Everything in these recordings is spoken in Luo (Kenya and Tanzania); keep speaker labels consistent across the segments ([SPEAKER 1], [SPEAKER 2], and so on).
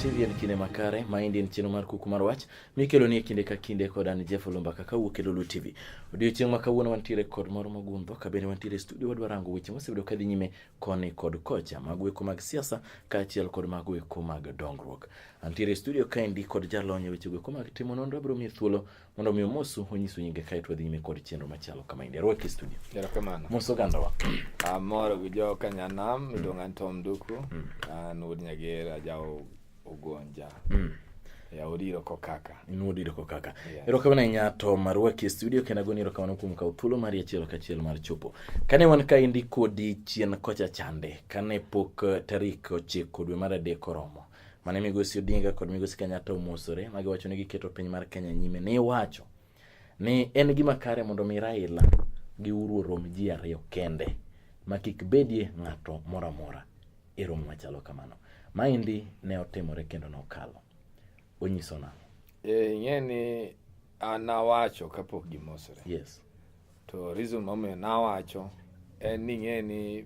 [SPEAKER 1] TV en kinde makare maendi en chenro mar kuku mar wach mikelo ni e kinde ka kinde kod an Jeff Olumba kaka wuok e Lulu TV. Odiochieng' ma kawuono wantiere kod moro mogundho ka bende wantiere e studio wadwa rango weche mosebedo kadhi nyime koni kod kocha mag weko mag siasa kaachiel kod mag weko mag dongruok. Antiere studio kaendi kod jalony e weche weko mag timo nonro abiro miye thuolo mondo mi omosu onyisu nyinge kae to wadhi nyime kod chenro machalo kama endi. Arwaki studio. Erokamano. Mos ogandawa. Amor gi
[SPEAKER 2] jo Kanyanam, mm. iluonga ni Tom Duku. Mm. An wuod Nyager, ajawo ugonja mm. ya odiro kokaka in odiro kokaka
[SPEAKER 1] yes. erokamano ahinya to marwaki e studio kendo agoni erokamano kuom kawo thuolo mari achiel kachiel mar chopo kane wan ka endi kodi chien kocha chande kane pok eh, tarik ochiko dwe mar adek oromo mane migosi odinga kod migosi kenyatta omosore ma giwacho ni giketo piny mar kenya nyime ne iwacho ni en gima kare mondo mi Raila gi Uhuru orom ji ariyo kende ma kik bedie ng'ato moro amora e romo machalo kamano. Maendi ne otimore kendo nokalo. Onyiso nang'o? Eh, ing'e ni
[SPEAKER 2] an nawacho kapok gimosore. Yes.
[SPEAKER 1] To reason
[SPEAKER 2] momiyo nawacho en ni ing'e ni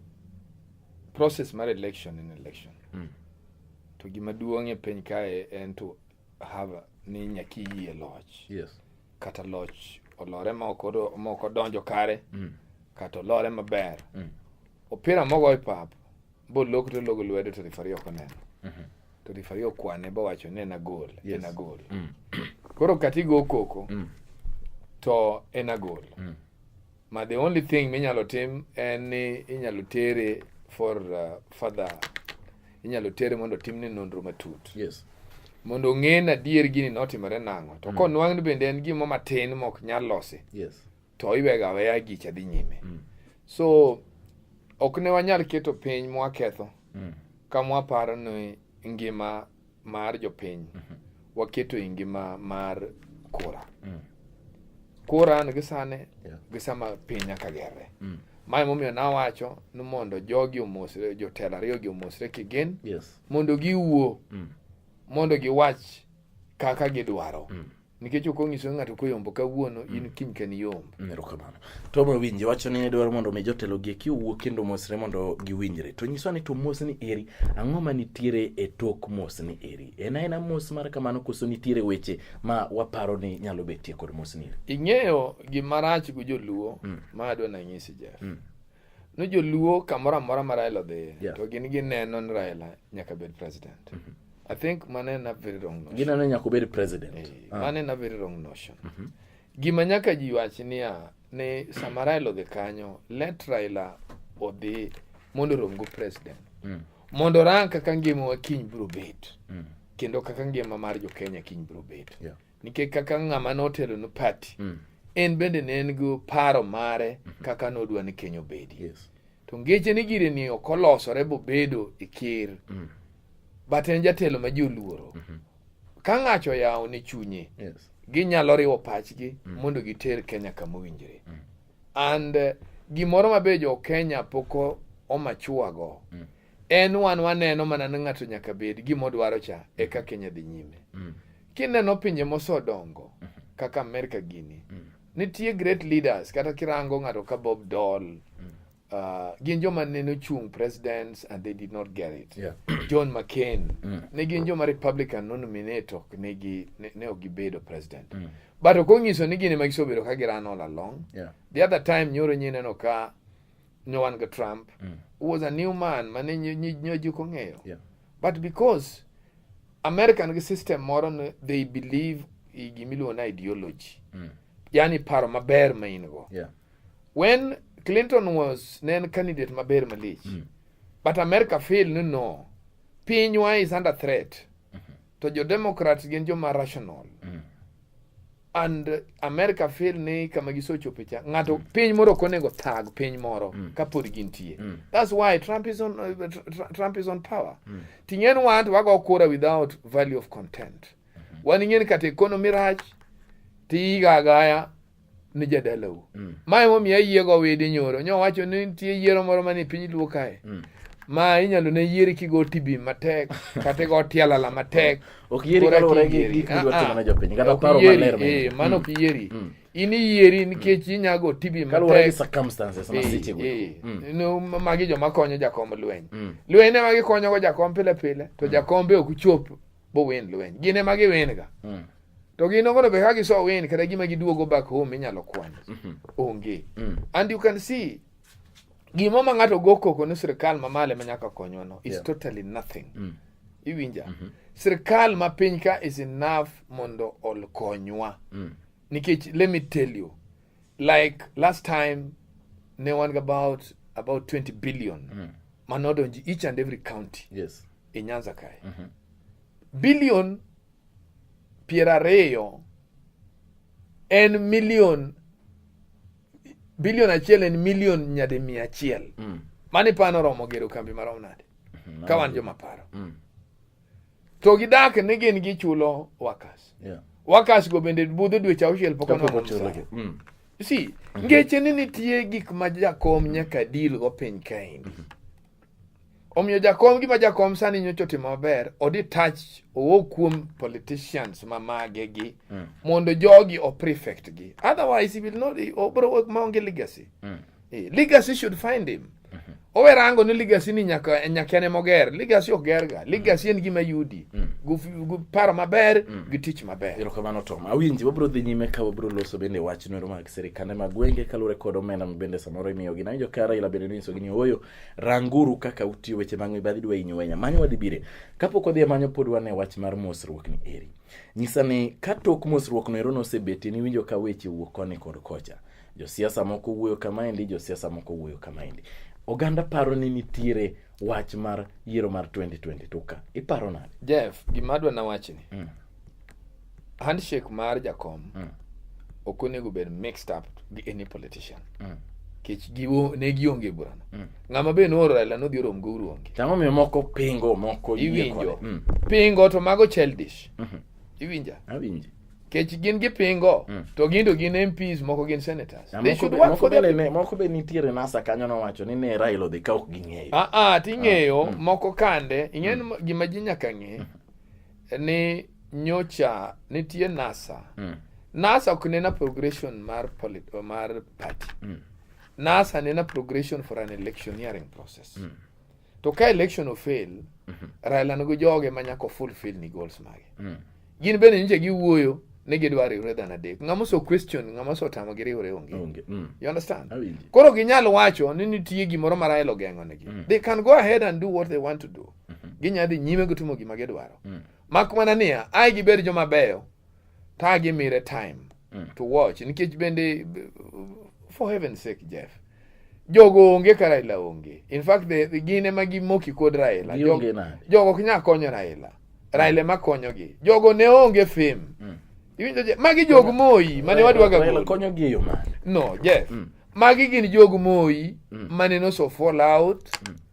[SPEAKER 2] process mar election en election. Mm. To gima duong' e piny kae en to haba ni nyaki yie loch yes kata
[SPEAKER 1] loch
[SPEAKER 2] olore ma ok odo- ma ok odonjo kare mm. kata olore maber Mm. opira mogo e pap bolok to logo lwedo to rifari ok oneno Mhm. to rifari okwane bowacho ni en agol Yes. en agol
[SPEAKER 1] Mm.
[SPEAKER 2] koro katigo koko Mm. to en agol Mm. ma the only thing minyalo tim en ni inyalo tere for uh, further inyalo tere mondo timne nonro matut yes
[SPEAKER 1] mondo ong'e
[SPEAKER 2] na adier gini notimore nang'o to mm. konwang' ni bende en gimo matin mok nyal losi yes to
[SPEAKER 1] iwega aweya
[SPEAKER 2] gicha dhi nyime mm. so ok ne wanyal keto piny mwaketho mm. ka mwaparo ni ngima mar jopiny mhm. waketo e ngima mar kura mm. kura an gi sane gi sama piny nyaka gerre mm. mae momiyo nawacho ni mondo jogi omosre jotelo ariyogi omosre kigen mondo
[SPEAKER 1] giwuo
[SPEAKER 2] mm. mondo giwach kaka gidwaro nikech ok onyiso ng'ato koyombo kawuono in mm. kiny kani yombo mm, erokamano
[SPEAKER 1] to mawinje wacho ni ne dwaro mondo mi jotelo gi eki owuo kendo mosre mondo giwinjre to nyiswa ni to mos ni eri ang'o ma nitiere e tok mos ni eri en aena mos mar kamano koso nitiere weche ma waparo ni nyalo betie kod mos ni eri ing'eyo gimarach
[SPEAKER 2] gi joluo mm. ma adwa nanyisi jeff mm. No joluo kamoro amora ma Raila odhiye yeah. to gin gineno ni Raila nyaka bed president. Mm -hmm. I think mano en a very wrong notion. Gineno nyaka obed president.
[SPEAKER 1] Hey, eh, ah. Mano en a very wrong
[SPEAKER 2] notion. Mm -hmm. Gima nyaka ji wach niya ni sama Raila odhi kanyo, let Raila odhi mondo romgo president. Mm. Mondo rang kaka ngimawa kiny biro bet. Mm. Kendo kaka ngima mar jo Kenya kiny biro bet. Yeah. nikech kaka ng'ama notelo no party mm. en bende ne en gi paro mare mm -hmm. kaka nodwa ni Kenya obedi yes. to ngeche
[SPEAKER 1] ni gire
[SPEAKER 2] ni ok olosore bobedo e ker mm. but en jatelo ma ji oluoro mm -hmm. ka ng'acho oyawo ne chunye yes. ginyalo
[SPEAKER 1] riwo
[SPEAKER 2] pachgi mm. mondo giter Kenya kama owinjore mm. and uh, gimoro mabe jo Kenya poko omachuago mm. en wan waneno mana ni ng'ato nyaka bed gimodwaro cha eka mm. Kenya dhi nyime mm. Kineno pinje mosedongo kaka Amerika gini, nitie great leaders kata kirango ng'ato ka Bob Dole mm. uh, gin joma neno chung presidents and they did not get it yeah. John McCain
[SPEAKER 1] mm.
[SPEAKER 2] ne gin joma Republican nominate ok ne gi ne ok gibedo president mm. but ok onyiso ni gin ema gisebedo ka girano all along yeah. the other time
[SPEAKER 1] nyoro
[SPEAKER 2] nyineno ka nyowan ga Trump mm. was a new man mane nyoji kong'eyo yeah. but because American system moro ne they believe gimiluongo na ideology mm. yani paro maber ma in go yeah.
[SPEAKER 1] when
[SPEAKER 2] Clinton was ne en candidate maber malich mm. but America feel ni no pinywa is under threat mm -hmm. to jo Democrats gin joma rational mm. and uh, America feel ni kama gisochope cha ng'ato mm. piny moro ok onego thag piny moro mm. kapod gintie mm. that's why Trump is on, uh, tra Trump is on power mm. ting'en wan to wago kura without value of content mm -hmm. wan ing'en kata economy rach tiigagaya ni jadalau mm. ma emomiyo ayiego widi nyoro nyo wacho ni nitie yiero moro mani piny luo kae mm. ma inyalo ne yieri kigo tibi matek kata igo tialala matek ok yieri kaluwore
[SPEAKER 1] gi gik midwa timo ne jopiny kata paro maler eh, mano ok yieri mm.
[SPEAKER 2] mm. in iyieri nikech mm. inyago tibi kaluwore gi
[SPEAKER 1] circumstances ma eh, seche go eh.
[SPEAKER 2] magi joma konyo jakom lweny lweny ema gikonyogo jakom pile pile to jakombe ok chop bo wen lweny gin ema giwen ga to gin ogono be ka giso wen kata gima giduogo back home inyalo kwan mm-hmm. onge and you can see Gimo ma ng'ato go koko ni sirkal ma male ma nyaka konywa no is yeah. totally nothing. Mm. Iwinja? Mm -hmm. Sirkal ma piny ka is enough mondo ol konywa. Mm. Nikech let me tell you like last time ne wan ga about about 20 billion mm. manodonji each and every county yes. e Nyanza kae. Mm -hmm. Billion piero ariyo en million Bilion achiel en milion nyadi mia achiel. Mm. Mani pano romo gero kambi marom nade? Mm. Ka wan joma paro. Mm. To gidak ni gin gichulo wakas. Yeah. Wakas go bende budho dweche auchiel pok ono chulo. Mm. Si, mm-hmm. ngeche ni nitie gik ma jakom nyaka deal go piny kaendi. Mm-hmm. Omiyo jakom gima jakom sani nyocha otimo maber, odi touch owo kuom politicians ma mage gi mm. mondo jogi o prefect gi. Otherwise he will not obro work maonge legacy. Mm. Eh, legacy should find him. Mm -hmm. Owe rango ni legacy ni nyaka nyaka ne moger. Legacy ok ger ga. Legacy en gima yudi. Mm. Gu paro maber, mm. gi tich maber. Ero kamano Tom. Awinji
[SPEAKER 1] wabro dhi nyime ka wabro loso bende wach nero mag serikande mag gwenge kalure kod omenda mabende samoro imiyo gi. Nawinjo ka Raila bende niso gi ni oyo Ranguru kaka utiyo weche mag mibadhi dwa inyo wenya. Manyo wadhi bire. Kapok wadhi manyo pod wane wach mar mosruok ni eri. Nyisa ni ka tok mosruok no ero nosebeti ni winjo ka weche wuok koni kod kocha. Josiasa moko wuoyo kama endi, josiasa moko wuoyo kama endi. Oganda paro ni nitiere wach mar yiero mar 2022 ka. Iparo nade? Jeff, gima adwa na
[SPEAKER 2] wachni. Mm. handshake mar jakom mm. ok onego bed mixed up gi any politician mm. kech giwo ne gionge burano mm. ng'ama be nooro Raila nodhi orom go uruonge tamo miyo moko pingo
[SPEAKER 1] moko iwinjo mm.
[SPEAKER 2] pingo to mago childish mm -hmm. iwinja awinji
[SPEAKER 1] kech gin gi
[SPEAKER 2] pingo mm. to gindo gin MPs moko gin senators they should work for them moko be nitiere nasa
[SPEAKER 1] kanyo nowacho ni ne Raila odhi ka ok ging'eyo ah ah ting'eyo ah,
[SPEAKER 2] mm. moko kande ing'en mm. gima ji nyaka ng'e mm. ni nyocha nitie NASA mm. NASA ok nena progression mar polit, mar party mm. NASA nena progression for an electioneering process mm. to ka election ofail mm -hmm. Raila nigo joge ma nyaka fulfill ni goals mage mm. gin bende nje giwuoyo ni gidwa riwre dhano adek ng'ama oso question ng'ama oso tamo gi riwre onge onge mm. you understand koro ginyal wacho ni nitie gimoro ma Raila ogeng'o negi mm. they can go ahead and do what they want to do Mhm. Ginya dhi nyime gitimo gima gidwaro. Mm. Mak mana niya, ai gibed joma beyo, ta gimire time mm. to watch. Nikech bende, for heaven's sake, Jeff, jogo onge ka Raila onge. In fact, the, the gin ema gimoki kod Raila. Jog, jogo ok nyal konyo Raila. Raila ema konyogi. Jogo ne onge fame. Mm. Iwinjo je, magi jog Moi mane wadwaga gol. Raila konyogi e yo
[SPEAKER 1] mane? No, Jeff.
[SPEAKER 2] Mm. Magi gin jog Moi mm. mane noso fall out. Mm.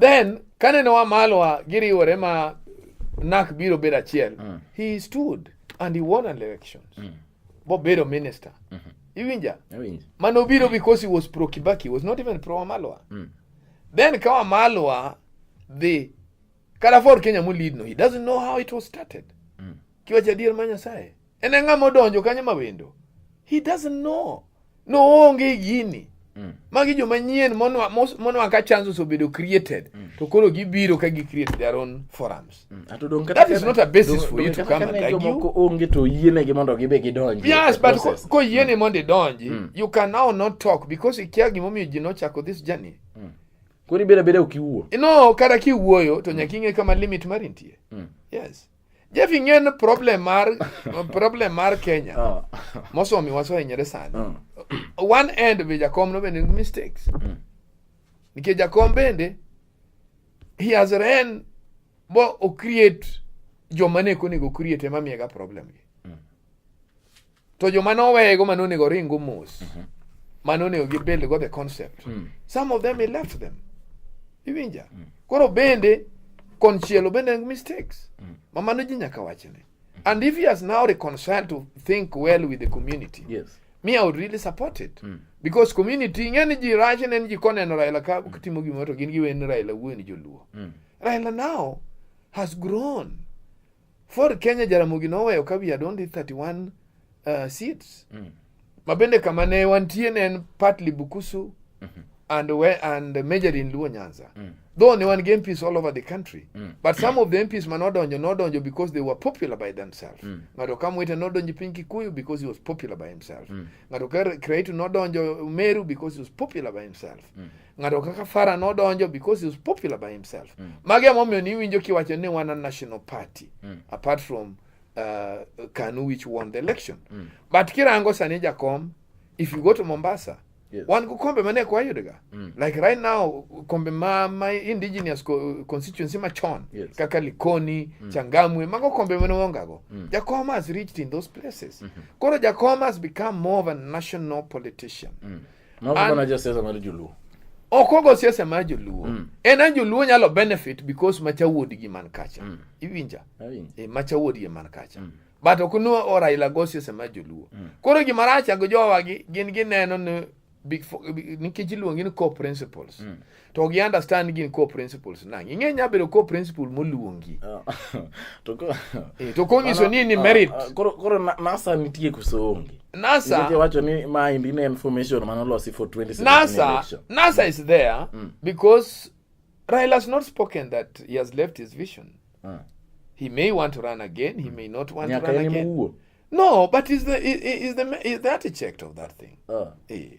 [SPEAKER 2] Then kane noa malo wa giriwore ma nak biro bedo achiel mm. he stood and he won an election mm. bobedo minister mm -hmm. iwinja Iwinja. mano biro because he was pro kibaki he was not even pro wamalwa mm. then ka wamalwa dhi kalafor kenya molidno he doesn't know how it was started mm. kiwacha adier ma nyasaye En ang'a modonjo kanyo ma wendo. He doesn't know. No onge gini. Mm. Magi joma nyien monwa monwa ka chances obedo created mm. to koro gibiro ka gi create their own forums. Mm. Ato don kata that is not a basis for you to come and argue. Jomoko onge to yiene
[SPEAKER 1] gi mondo gibe gidonji. Yes, but ko, ko
[SPEAKER 2] yiene mm. mondo idonji, mm. you can now not talk because ikia gimomiyo ji nochako this journey. Mm. Koro ibeda
[SPEAKER 1] beda ukiwuo. No, kata kiwuoyo
[SPEAKER 2] to mm. nyaka ing'e kama limit mari nitie. Mm. Yes. jefing'e ni problem mar problem mar kenya ah. mosomi wasohinyore sani ah. one end be jakom no bende mistakes mm. nikech jakom bende he has ran bo o create joma ne konego create ema miyega problem gi mm. To joma noweyego ma nonego ringo mos, mhm. ma nonego gibuild go the concept, mm. some of them he left them. Iwinja? Mm. Koro bende konchielo bende en mistakes. Mm. Ma mano ji nyaka wachne. Mm. And if he has now reconciled to think well with the community. Yes. Me I would
[SPEAKER 1] really support
[SPEAKER 2] it. Mm. Because community ng'e ni ji rach ne ji koneno Raila ka mm. timo gimoro to gin giweni Raila wuon joluo. Mm. Raila now has grown. Ford Kenya Jaramogi noweyo ka wiye adondi 31 uh, seats mm. mabende kama ne wantie ne en partly Bukusu mm -hmm. and, we, and majorly in Luo Nyanza mm. though ne wan gi MPs all over the country mm. but some of the MPs ma nodonjo nodonjo because they were popular by themselves mm. ng'ato ka Mwita nodonjo piny Kikuyu because he was popular by himself mm. ng'ato ka Kiraitu nodonjo Meru because he was popular by himself mm. ng'ato kaka Fara nodonjo because he was popular by himself. Mm. Magi emomiyo ni iwinjo kiwacho ni wan a national party mm. apart from uh, Kanu which won the election. Mm. But kirango sani jakom if you go to Mombasa Yes. wan go kombe mane kwa yudega mm. like right now kombe ma my indigenous co constituency machon yes. kaka likoni mm. changamwe mago kombe mane wongago mm. jakoma has reached in those places mm -hmm. koro jakoma has become more of a national politician mm.
[SPEAKER 1] ok ogo siasa
[SPEAKER 2] mar joluo mm. en an joluo nyalo benefit because macha wuodgi man kacha mm. iwinja e, macha wuodgi man kacha mm. but ok nu oraila go siasa mar joluo mm. koro gima racha go jowagi gin gineno ni nikech iluongi ni core principles mm. to gi understand gin core principles nang ing'e nya bedo core principle moluongi ah, to ko eh to ko nyiso ni ni ah, merit ah, koro koro nasa
[SPEAKER 1] nitie kusongi nasa wacho
[SPEAKER 2] ni ma indi
[SPEAKER 1] ne information mano losi for 2017 nasa election. nasa mm. is there mm.
[SPEAKER 2] because Raila has not spoken that he has left his vision mm. he may want to run again he mm. may not want Nyaka to run again muwo. no but is the is, is the is the architect of that thing uh. eh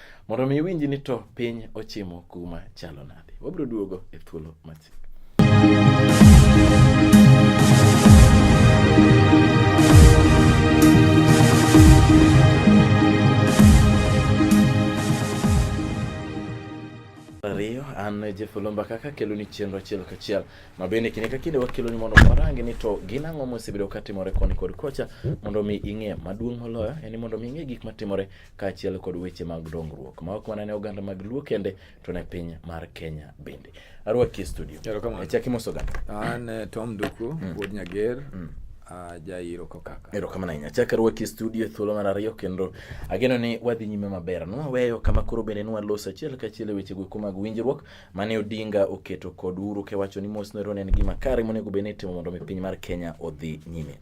[SPEAKER 1] Mondo mi iwinji ni to piny ochimo kuma chalo nade. Wabiro duogo e thuolo machiegni. ariyo an Jeff Olomba kaka kelo ni chenro achiel kachiel ma bende kinde ka kinde wakelo ni mondo warangi ni to gin ang'o mosebedo katimore koni kod kocha mondo mi ing'e maduong' moloyo en ni mondo mi ing'e gik matimore kaachiel kod weche mag dongruok ma ok mana ne oganda mag Luo kende to ne piny mar Kenya bende. Arwaki e studio. Erokamano. E chaki moso ganda. An eh, Tom
[SPEAKER 2] Nduku, mm. Wuod Nyager. Mm. Ah, jairo kokaka erokamano ahinya chak arwaki
[SPEAKER 1] e studio e thuolo mar ariyo kendo ageno ni wadhi nyime maber nwaweyo kama koro bende nwalos achiel kachiel e weche goeko mag winjruok mane odinga oketo kod uru kewacho ni mos noero ne en gima kare monego bed ni itimo mondo mi piny mar kenya odhi nyime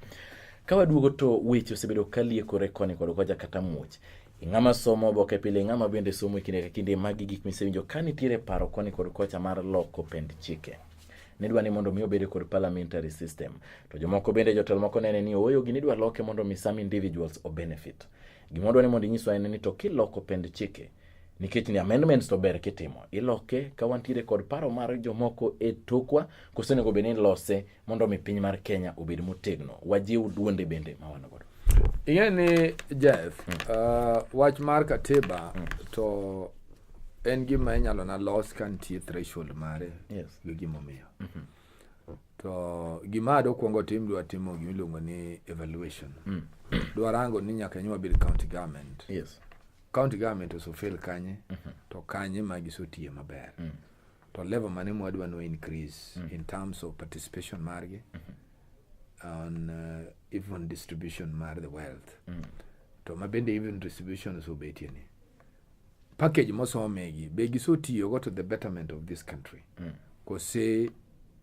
[SPEAKER 1] Ka waduogo to weche osebedo ka liekore koni kod kocha kata muoch. Ing'ama somo oboke pile, ing'ama bende somo e kinde ka kinde, magi gik misewinjo ka nitiere paro koni kod kocha mar loko pend chike nidwa ni mondo mi obed kod parliamentary system to jomoko bende jotelo moko nene ni ooyo gini idwa loke mondo mi some individuals o benefit gima wadwa ni mondo inyiswa en ni to kiloko pend chike nikech ni amendments to ber kitimo iloke ka wantiere kod paro mar jomoko e tokwa kosenego bed ni lose mondo omi piny mar Kenya obed motegno, wajiw duonde bende ma wan godo. Ing'e ni
[SPEAKER 2] Jeff, hmm. uh, wach mar katiba hmm. to en gima inyalo na los ka nitie threshold mare yes. gi gimomiyo.
[SPEAKER 1] Mm -hmm.
[SPEAKER 2] To gima adwa kwongo tim dwa timo gima iluongo ni evaluation. Mm. Dwa rango ni nyaka nywa bil county government. Yes.
[SPEAKER 1] County government
[SPEAKER 2] oso fail kanye mm -hmm. to kanye ma gisotiye maber. Mm. to level mane mwadwa no increase mm. in terms of participation margi mm -hmm. on uh, even distribution mar the wealth mm. to mabende even distribution osebetie ni package mosomegi be gisotiyogo to the betterment of this country mm. kose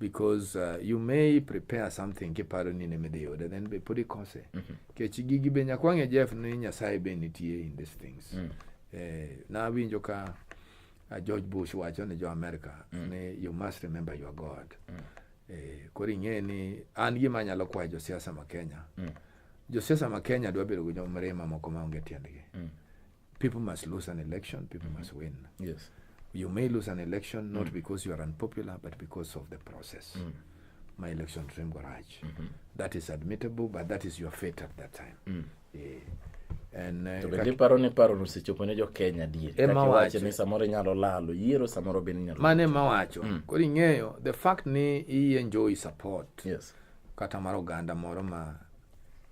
[SPEAKER 2] because uh, you may prepare something kiparo ni nemidhi yude then be pod ikose mm -hmm. kech gigi be nyakwang'e jeff ni nyasaye be nitie in these things mm. eh, nawinjo ka uh, george bush wacho ni jo america mm. ni you must remember your god mm. eh, koro ing'e ni an gima anyalo kwayo josiasa ma kenya mm. josiasa ma kenya dwa bedo gi jomrima moko maonge tiendgi mm. People must lose an election, people mm -hmm. must win. Yes. You
[SPEAKER 1] may lose an
[SPEAKER 2] election not mm. because you are unpopular, but because of the process. Mm. My election dream garage. Mm -hmm. That is admittable, but that is your fate at that time. Mm. Yeah. Eh, to bende iparo
[SPEAKER 1] ni paro nosechopo ne jokenya adier kakiwacho ni samoro inyalo lalo yiero samoro bende inyalo mane mawacho mm.
[SPEAKER 2] koro ing'eyo the fact ni iye njoi support yes. kata
[SPEAKER 1] mar oganda
[SPEAKER 2] moro ma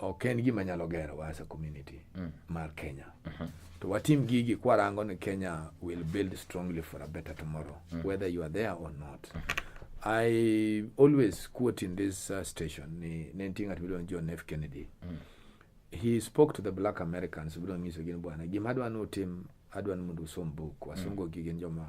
[SPEAKER 2] ok en gima nyalo gero as a community mm. mar Kenya mm -hmm. to watim gigi kwarango ni Kenya will build strongly for a better tomorrow mm. whether you are there or not mm -hmm. I always quote in this uh, station ni nenting at bilon John F Kennedy mm. he spoke to the black Americans bilon ngiso gin bwana gima adwa no tim adwa ni mundu som book wasungo mm. gigin joma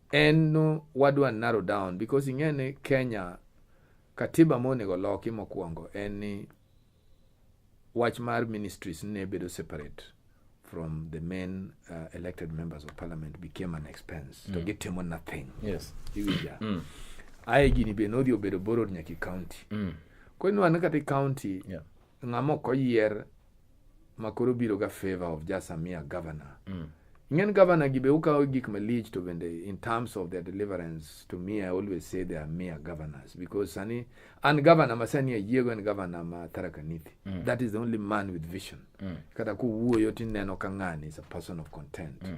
[SPEAKER 2] en no wadwa narrow down because ing'e ni Kenya katiba monego loki mokwongo en ni wach mar ministries ne bedo separate from the main uh, elected members of parliament became an expense mm. to gitimo nothing yes. iwinja mm. aye gini be nodhi obedo borrowed nyaki county mm. koro inwano kata county yeah. ng'ama ok oyier ma koro biro ga favor of just a mere governor mm. ing'en governor gi be ukawo gik malich to bende in terms of their deliverance to me i always say they are mere governors because sani an governor ma sani ayiego en governor ma tharakanithi mm. that is the only man with vision mm. kata kuwuoyo tineno ka ng'ani is a person of content mm.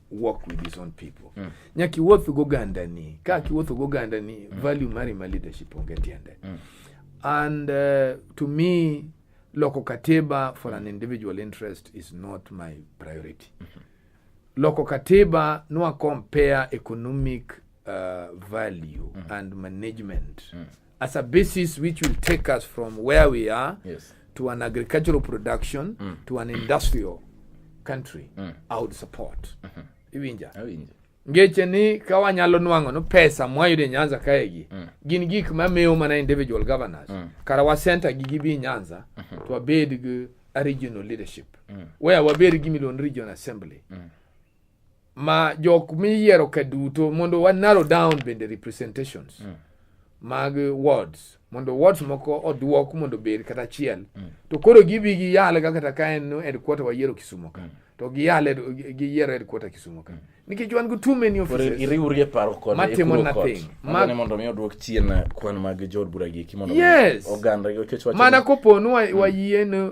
[SPEAKER 2] work with his own people mm. nyaki wuoth go ganda ni ka ki wuoth go ganda ni mm. value mari ma leadership onge tiende mm. and uh, to me loko katiba for an individual interest is not my priority mm -hmm. loko katiba nwa compare economic uh, value mm. and management mm. as a basis which will take us from where we are yes. to an agricultural production mm. to an industrial country mm. I would support mm -hmm. iwinja awinja ngeche ni ka wanyalo nwang'o no pesa mwayudo e nyanza kaegi mm. gin gik mamiyo mana individual governors mm. kara wasenta gi gibi e nyanza mm -hmm. to wabed gi a regional leadership mm. where wabed gi milon region assembly mm. ma jok miyiero ka duto mondo wa narrow down bende representations mm. mag wards mondo wards moko oduok mondo bed kata achiel mm. to koro gibi gi yale kata ka en headquarter wayiero Kisumo ka mm. to gi yale gi yiero headquarter Kisumo ka mm. nikech wan go too many offices iriwri e paro kod
[SPEAKER 1] matimo nothing
[SPEAKER 2] ma ne mondo mi oduok
[SPEAKER 1] chien kwan mag jod bura gi kimondo yes. oganda gi kecho mana koponu mm.
[SPEAKER 2] wayien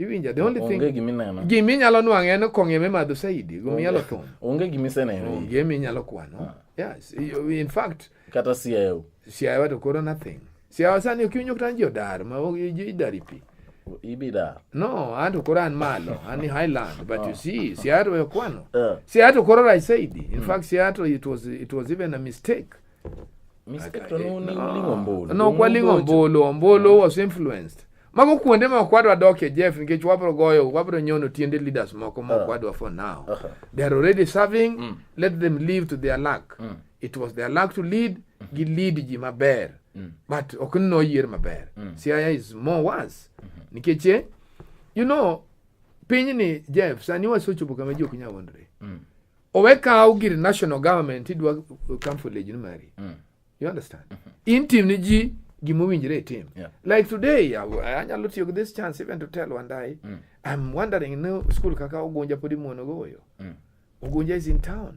[SPEAKER 2] iwinja the only thing gima inyalo nwang'o en kong'e mimadho saidi gima inyalo thum onge gima iseneno
[SPEAKER 1] onge gima inyalo kwano
[SPEAKER 2] ah. yes in fact kata siayo
[SPEAKER 1] siayo to koro nothing
[SPEAKER 2] siayo sani ok iwinjo kata jodar ma idari pi ibidar
[SPEAKER 1] no an to
[SPEAKER 2] koro an malo an ni highland but you ah. see siayo to okwano eh. siayo to koro right saidi in hmm. fact siayo to it was it was even a mistake mistake
[SPEAKER 1] to no ni lingo mbolo no kwa lingo mbolo
[SPEAKER 2] mbolo was influenced Mago kuonde ma okwadwa dokie Jeff nikech wabro goyo wabro nyono tiende leaders moko ma okwadwa for now. Uh-huh. They are already serving, mm. let them live to their luck. Mm. It was their luck to lead, mm-hmm. gi lead ji maber. Mm. But ok no year maber. Mm. Siaya is more worse. Mm-hmm. Nikech eh, you know pinyni Jeff sani wasechopo kama ji ok nyal wondre. Mm. Owe kaw gir national government idwa kamfo lejni mari. Mm. You understand? Mm -hmm. In team ni ji gima owinjore itim yeah. like today anyalo tiyo gi this chance even to tell wandai mm. i'm wondering no school kaka ogunja podi muono goyo mm. ogunja is in town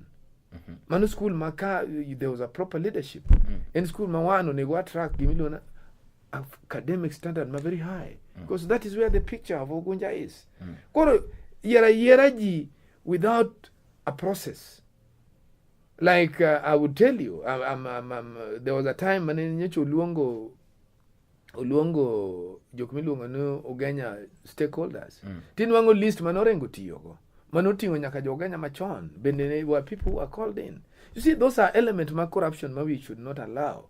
[SPEAKER 2] mm -hmm. mano school ma ka there was a proper leadership mm. en school ma wan onego attract gimiluona academic standard ma very high mm. because that is where the picture of ogunja is mm. koro yiera yiera ji without a process Like uh, I would tell you, I'm, I'm, I'm, I'm, uh, there was a time mane nyocha oluongo oluongo jok miluongo ni Ugenya stakeholders. Mm. Tinwang'o list mane orengo tiyogo. Mane oting'o nyaka jo Ugenya machon. Bende were people who are called in. You see, those are elements ma corruption ma we should not allow.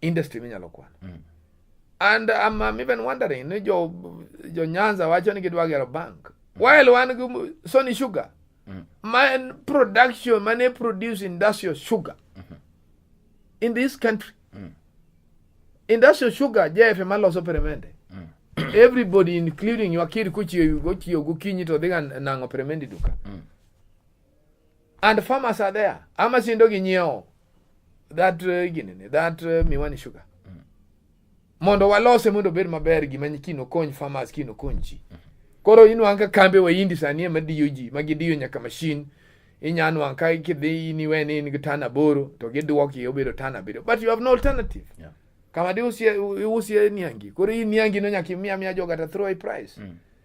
[SPEAKER 2] industry minyalo kwano mm. and I'm, I'm even wondering ni jo, jo nyanza wacho ni gidwa gero bank mm. while wan gi sony sugar mm. man production mane produce industrial sugar mm -hmm. in this country mm. industrial sugar jf maloso peremende mm. everybody including wakiri kuchiyo gochiyo gokinyi to dhiga nang'o peremende duka mm. and farmers are there ama sindo gi nyiewo that uh, ginene that uh, miwani sugar mm. mondo walose mondo obed maber gima kino kony farmers kino kony ji mm. koro inwang' ka kambe waindi sani ema diyo ji ma gidiyo nyaka mashin inya nwang' ka kidhi in iwe ni in gi tan aboro to gidwoki obedo tan abiriyo but you have no alternative yeah. kama di usie, usie niangi koro in niangi no nyaka imiya miya joga to throw a price mm.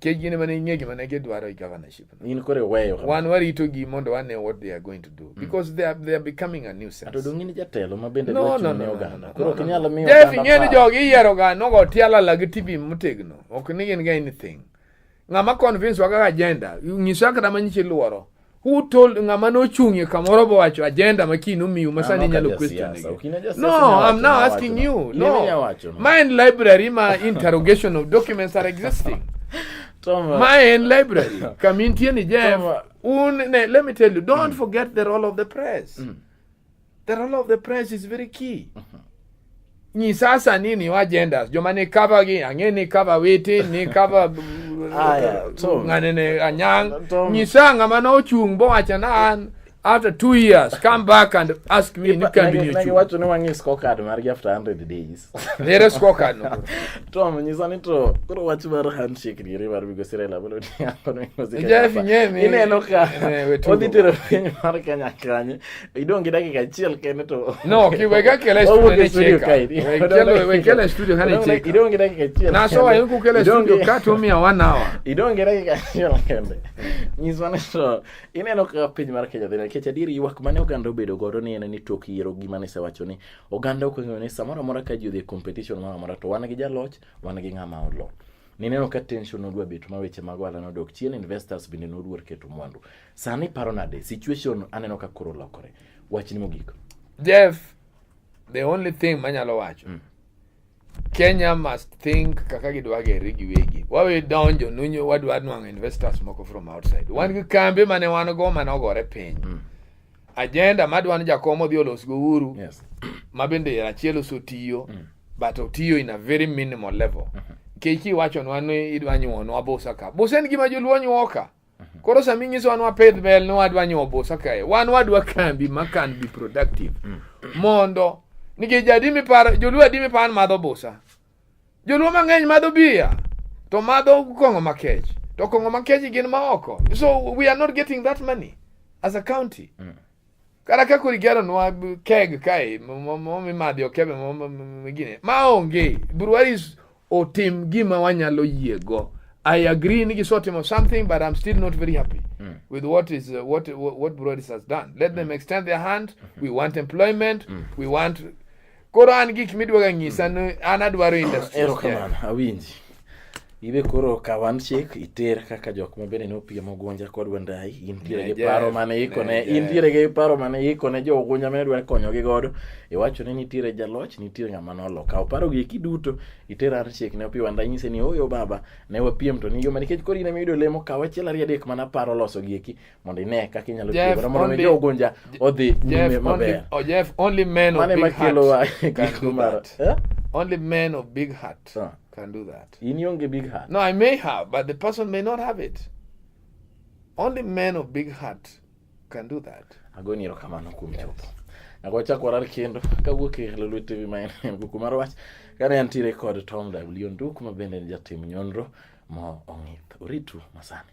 [SPEAKER 2] kejini mana ing'egi mana gidwaro governorship in kore weyo
[SPEAKER 1] wan warito gi mondo
[SPEAKER 2] wane what they are going to do mm. because they are, they are becoming a new sense atodongi ni jatelo ma
[SPEAKER 1] bende no no no oganda koro ok nyalo miyo Jeff ng'eni jogi
[SPEAKER 2] iyiero ga nogo tiala la gi TV motegno ok ni gin ga anything ng'ama convince waga agenda nyisa kata manyiche luoro who told ng'ama nochung'ie kamoro bowacho agenda ma kiny nomiu ma sani inyalo question no i'm now asking you no ma en library ma interrogation of documents are existing ma en library kama intie ni jeff un ne let me tell you don't mm. forget the role of the press mm. The role of the press is very key. Uh -huh. Ni sasa nini wa genders joma ni cover gi ang'e ni cover witi ni cover aya so nganene anyang ni sanga mana ochung bo acha na an after two years come back and ask me ni can be you what no one is
[SPEAKER 1] scorecard mar after 100 days there scorecard
[SPEAKER 2] no to me ni sani
[SPEAKER 1] to koro wach mar handshake ni river bigo sire la bolo ni akono ni sire jeff nyemi ine
[SPEAKER 2] no ka
[SPEAKER 1] oditero piny mar kanya kanye idong' gi dakika achiel kende to no kiwega kele
[SPEAKER 2] studio studio kaidi wekele wekele studio hani cheka idong' gi dakika achiel na
[SPEAKER 1] so ayo ku kele
[SPEAKER 2] studio ka to mi one hour idong' gi dakika achiel
[SPEAKER 1] kende nyiswa ni to ineno ka piny mar Kenya dhina nikech adier ywak mane oganda obedo godo ni en ni tok yiero gima ne sewacho ni oganda ok ong'eyo ni samoro amora ka ji odhi competition moro amora to wan gi jaloch wan gi ng'ama olo nineno ka tension odwa bet ma weche mag ohala nodok chien investors bende noluor keto mwandu Sani iparo nade? Situation aneno ka koro lokore. Wachni mogik. Jeff,
[SPEAKER 2] the only thing manyalo wacho. Mm. Kenya must think kaka gidwa gere giwegi. Wawe donjo nunyo wadwa nwang'o investors moko from outside. Wan gi kambe mane wan go mane ogore piny. Mm. Agenda madwa ni jakom odhi olos go uru. Yes. Ma
[SPEAKER 1] bende achiel
[SPEAKER 2] osotiyo. Mm. But otiyo in a very minimal level. Mm -hmm. Kechi wacho nwa ni idwa nyuonwa busa ka. Busa en gima joluo nyuoka. Mhm. Koro sami nyiso wan wapidh bel ni wadwa nyuo busa kae, wan wadwa kambi ma can be productive mm. mondo nikech jadi miparo joluo adi miparo madho busa joluo mang'eny madho biya to madho kong'o makech to kong'o makech gin maoko so we are not getting that money as a county mm. kata ka kori geronwa keg kae mimadhi okebe gine maonge Breweries otim gima wanyalo yiego I agree ni gisotimo something but I'm still not very happy mm. with what is uh, what, what what Breweries has done let mm. them extend their hand mm -hmm. we want employment mm. we want Koro an gik midwaga nyisa ni an adwaro industry. Erokamano awinji.
[SPEAKER 1] Ibe koro kaw handshake iter kaka jok ma bende nopiem Ogunja kod Wandayi intiere gi paro mane ikone intiere gi paro mane ikone jo Ogunja mane dwa konyogi godo iwacho ni nitiere jaloch nitiere ng'ama nolo kaw paro gi eki duto iter handshake ne Opiyo Wandayi nyise ni oyo baba ne wapiem to ni yo nikech koro in ema iyudo lemo kaw achiel ariyo adek mana paro loso gi eki mondo ine kaka inyalo tiyo godo mondo mi jogunja odhi nyime maber oh, Jeff only men
[SPEAKER 2] of big heart can do that eh? only men of big heart huh. can do that in ionge big heart no
[SPEAKER 1] I may have but
[SPEAKER 2] the person may not have it only men of big heart can do that agoni erokamano
[SPEAKER 1] kuom chopo nago chako warar kendo kawuok e Lulu TV ma en kuku mar wach kane antiere kod Tom W Nduk ma bende en jatim nyonro ma ong'ith oritu masani